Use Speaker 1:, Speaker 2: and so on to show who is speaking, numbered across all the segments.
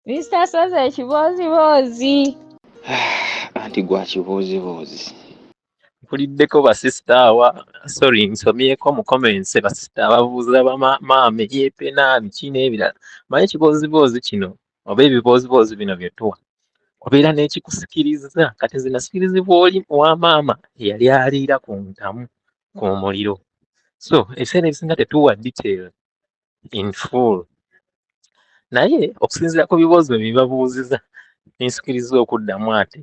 Speaker 1: Mr. Soze ekibooziboozi.
Speaker 2: Anti gwa kibooziboozi.
Speaker 3: Mpuliddeko basisita awa sorry nsomyeko mu comments basisita ababuuza bamaama eyepena biki n'ebirala manyi ekibooziboozi kino oba ebibooziboozi bino bye tuwa obeera n'ekikusikiriza kati nze nasikirizibwa oli wa maama eyali aliira ku ntamu ku muliro so ebiseera ebisinga tetuwa detail in full naye okusinziira ku bibuuzo byebabuuziza nensikiriza okuddamu ate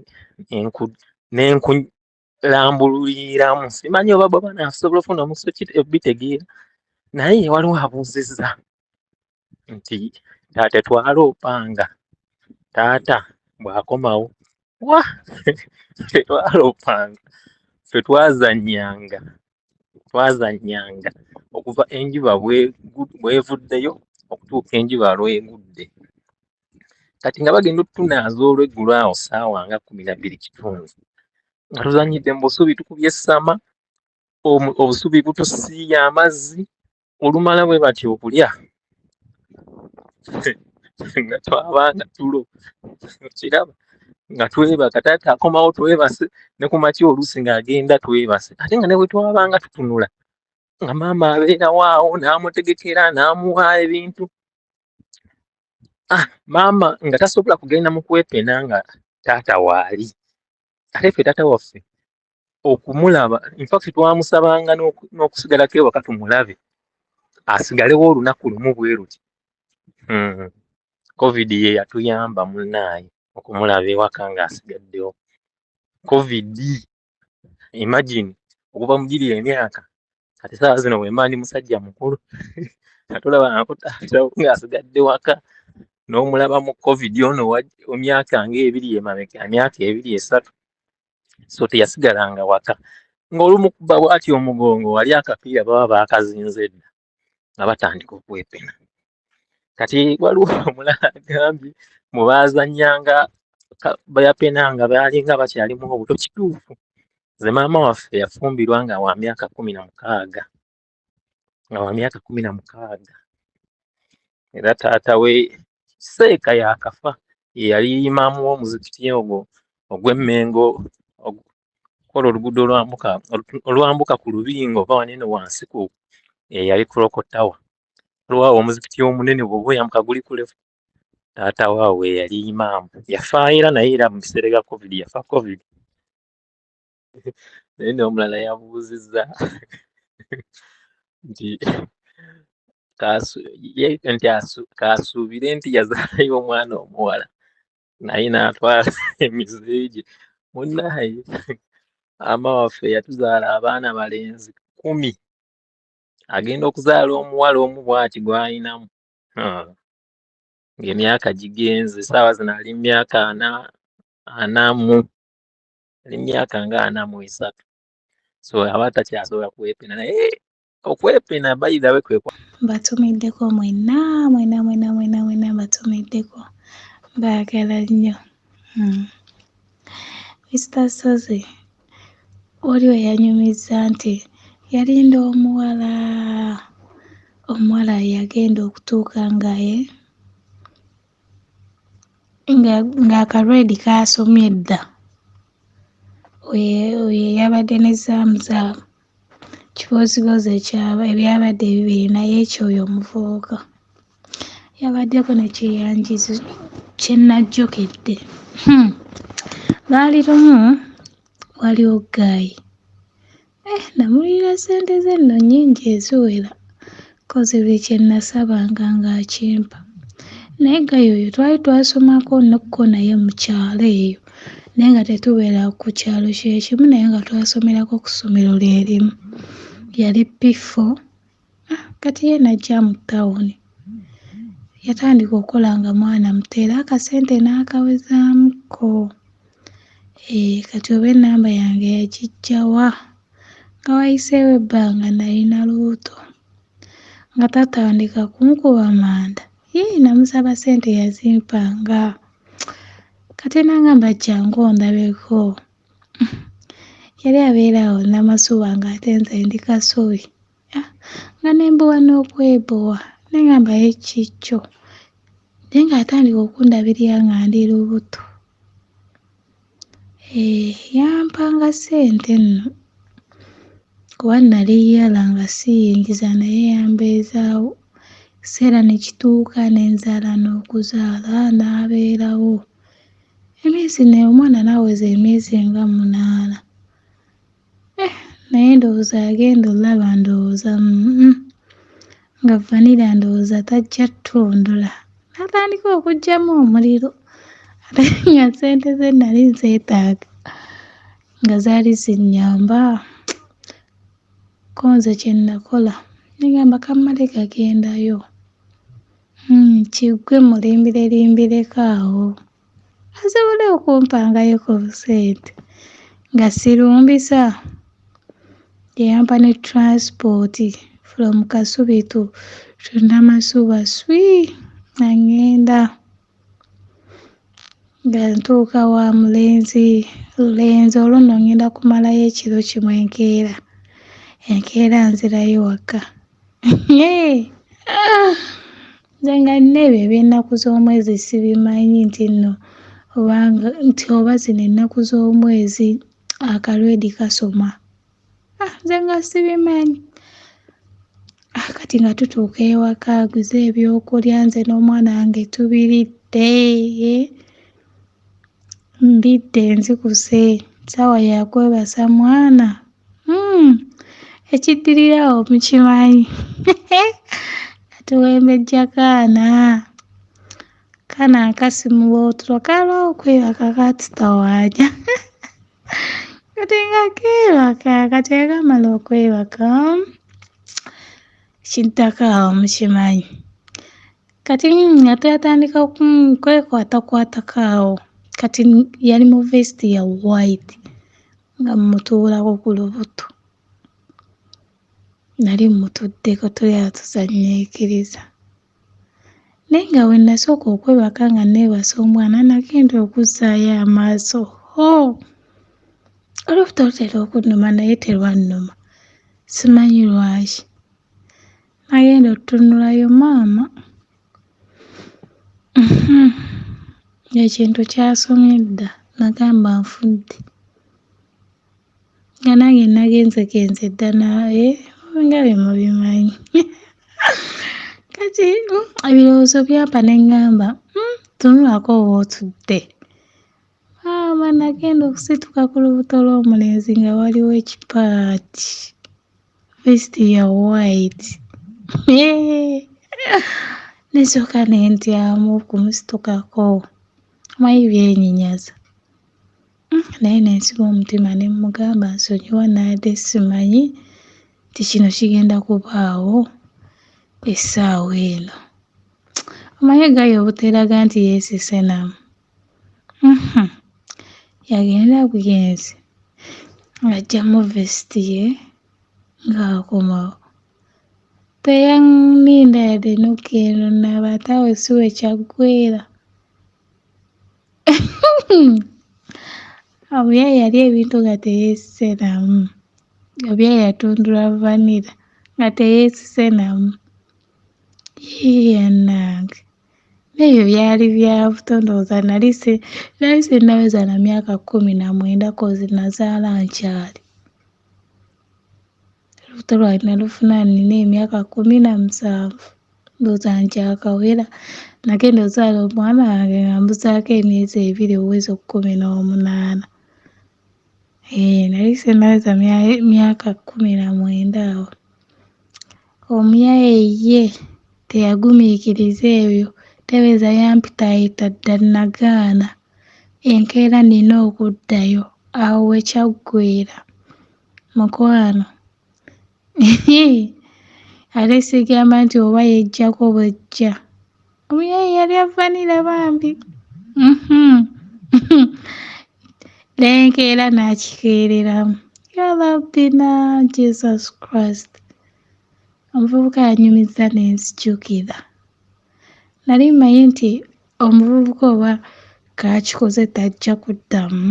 Speaker 3: nenkulambululiramu simanyi oba baba nasobola ofuna omuso bitegeera naye waliwo abuuzizza nti taata twala opanga taata bwakomawo wa fetwala opanga fetwazanyanga twazannyanga okuva enjuba bwevuddeyo okutuuka enjuba lwegudde kati nga bagenda otutunaaza olweggulo awo saawa nga kumi nabbiri kitundu nga tuzannyidde mu busubi tukubye essama obusubi butusiiya amazzi olumala bwe batya okulya nga twabanga tulo kiraba nga twebaka taata akomawo twebase ne ku makya oluusi ng'agenda twebase ate nga ne bwe twabanga tutunula nga maama abeerawo awo n'amutegekera n'amuwa ebintu ah maama nga tasobola kugenda mu kwepena nga taata waali ate ffe taata waffe okumulaba infact twamusabanga n'okusigalako ewaka tumulabe asigalewo olunaku lumu bweruti hmm. covid ye yatuyamba munaaye okumulaba ewaka ng'asigaddewo covid imagine okuva mugiri emyaka kati saawa zino wemba ndi musajja mukulu atulaba ng'asigadde waka n'omulaba mu covid ono omyaka ngaebiri emabega emyaka ebiri esatu so teyasigalanga waka ng'olumukuba bwati omugongo wali akapiira baba baakazinze dda nga batandika okwepena kati waliwo omulala agambye mu baazannyanga bayapena nga baalinga bakyalimu obuto kituufu nze maama waffe yafumbirwa nga wa myaka kumi na mukaaga nga wa myaka kumi na mukaaga era taata we seeka yakafa yeyali imaamu w'omuzikiti ogwo ogw'emmengo kola oluguudo olwambuka olwambuka ku lubingo oba wanene wansi ku eyali kuloko tawa olwawo omuzikiti omunene bwoba oyambuka guli kulefu taata waawe yali imaamu yafaayo era naye era mu biseera bya covid yafa covid naye n'omulala yabuuzizza nti nti kaasuubire nti yazaalayo omwana omuwala naye n'atwala emize gye munaye ama waffe yatuzaala abaana balenzi kumi agenda okuzaala omuwala omu bwati gwalinamu ng'emyaka gigenze saawa zino ali mumyaka ana anamu ali myaka nga ana mu esatu so aba takyasobola kwepena naye eh, okwepena bayidawe kwekwa mbatumiddeko
Speaker 4: mwena mwena mwena mwena mwena mbatumiddeko baagala nnyo hmm. mister sozi oli weyanyumizza nti yalinda omuwala omuwala yagenda okutuuka ngaye nga nga akalwedi kaasomye dda oyo oyo eyabadde ne zaamu zaamu kiboozibozi ekyaba ebyabadde bibiri naye ekyo oyo omuvubuka yabaddeko ne kyeyanjizo kye najjukidde hmm. lwali lumu waliwo ggaayi Eh, namulira ssente ze nno nnyingi eziwera kozi buli kye nasabanga ng'akimpa naye gaya oyo twali twasomako nokko naye mu kyalo eyo naye nga tetubeera ku kyalo kye kimu naye nga twasomerako ku ssomero lye limu yali p4 Ah, kati ye najja mu tawuni yatandika okukola nga mwana muto era akasente n'akawezaamuko eh, kati oba ennamba yange yagijjawa nga wayiseewo ebbanga nalina lubuto nga tatandika kunkuba manda yii namusaba sente yazimpanga kati nangamba jangu ondabeko yali abeera awo namasuba ng'ate nze ndi kasubi ah, nga nembuwa n'okwebowa nengamba yekikyo naye ng'atandika okundabirira nga ndi lubuto eh, yampanga ssente nno kuba nali yala nga siyingiza naye yambeezaawo ekiseera ne kituuka ne nzaala n'okuzaala n'abeerawo. Emyezi ne omwana naweza emyezi nga munaana eh naye ndowooza yagenda olaba ndowooza mm, nga vanira ndowooza tajja ttundula natandika okugyamu omuliro ate nga sente ze nali nzeetaaga nga zaali zinyamba konze kyenakola negamba kammale gagendayo Uhmm kiggwe mulimbilelimbireko awo asobole okumpangayo ku busente nga sirumbisa ye yampa ne transport from kasubi to to namasuba swii nga ngenda. Nga ntuuka wa mulenzi lulenzi olwo nno ngenda kumalayo ekiro kimu enkeera enkeera nzirayo wakka eeh aah nze nga n'ebyo eby'ennaku z'omwezi sibimanyi nti nno oba nti oba zino ennaku z'omwezi akalwedi kasoma. Ah, nze nga sibimanyi ah, kati nga tutuuka ewaka aguze ebyokulya nze n'omwana wange tubiridde mbidde nzikuse saawa yakwebasa mwana hmm, ekiddirira awo mukimanyi katuwembejja kaana kaana nkasimuwa otulo kalwa okwebaka katutawanya kati nga keebaka kati akamala okwebaka kiddako awo mukimanyi kati nga twatandika kwekwatakwatako awo kati yali mu vest ya white nga mmutuulako ku lubuto nali mmutuddeko tuli atuzannyikiriza Naye nga bwe nasooka okwebaka nga neebase omwana nagenda okuzzaayo amaaso hoo olubuto lutera okunnuma naye terwannuma simanyi lwaki nagenda otutunulayo maama uhm ekintu kyasomye dda nagamba nfudde. nga nange nagenzegenze dda naye nga bye mubimanyi kati mm, ebirowoozo byampa ne ŋŋamba mm, tunulako oba otudde maama ah, nagenda okusituka ku lubuto lw'omulenzi nga waliwo ekipaati vist ya white nesooka ne ntyamu okumusitukako mayi byenyinyaza naye ne nsiba omutima ne mmugamba nsonyiwa naade simanyi nti kino kigenda kubaawo ku essaawa eno omanyi egayi obuteraga nti yeesisenamu mhm. yagenda bugenzi ng'aggyamu vesiti ye ng'akomawo teyaninda yadde nokendo naba ate awo si we kyaggweera obuya yali ebintu nga teyesise namu obuya yatundula vanira nga teyesise namu yanange ebyo byali byabuto ndowooza nali si nali sinnaweza na myaka kkumi na mwenda kozi nazaala nkyali olubuto lwange nalufuna nina emyaka kumi na musanvu ndowooza nkyakawera nagenda ozaala omwana wange nga mbuzaako emyezi ebiri owezi okukumi n'omunaana ee nali senaweza myaka kumi na mwenda awo omuyaye ye teyagumiikiriza ebyo tebeeza yampitaayita dda nagaana enkeera nina okuddayo awo wekyaggweera Mukwano ate sigamba nti oba yejjako bwejja omuyaye yali avanira bambi mhm. nenkeera nakikeereramu yalabina jesus christ omuvubuka yanyumiza nenzijukira nali mmanyi nti omuvubuka oba kakikoze tajja kuddamu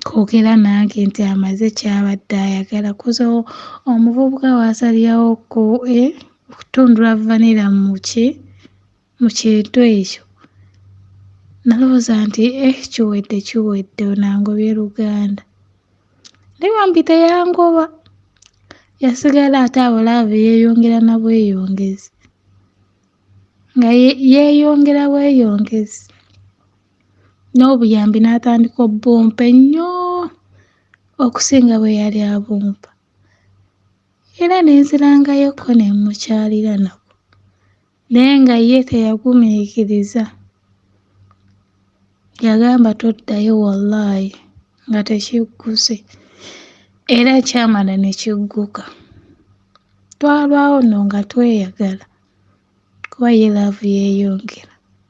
Speaker 4: koogera nange nti amaze ky'abadde ayagala kuza omuvubuka waasalirawo ku e, okutundula vanira mu ki mu kintu ekyo nalowooza nti e kiwedde kiwedde onangobye luganda naye bambi teyangoba yasigala ate abulaavu yeeyongera na bweyongezi nga yeeyongera bweyongezi n'obuyambi n'atandika obbumpa ennyo okusinga bwe yali abumpa era ne nzirangayokko ne mmukyalira nako naye nga ye teyagumiikiriza yagamba toddayo wallaahi nga tekigguse era kyamala ne kigguka twalwawo nno nga tweyagala kuba ye laavu yeeyongera.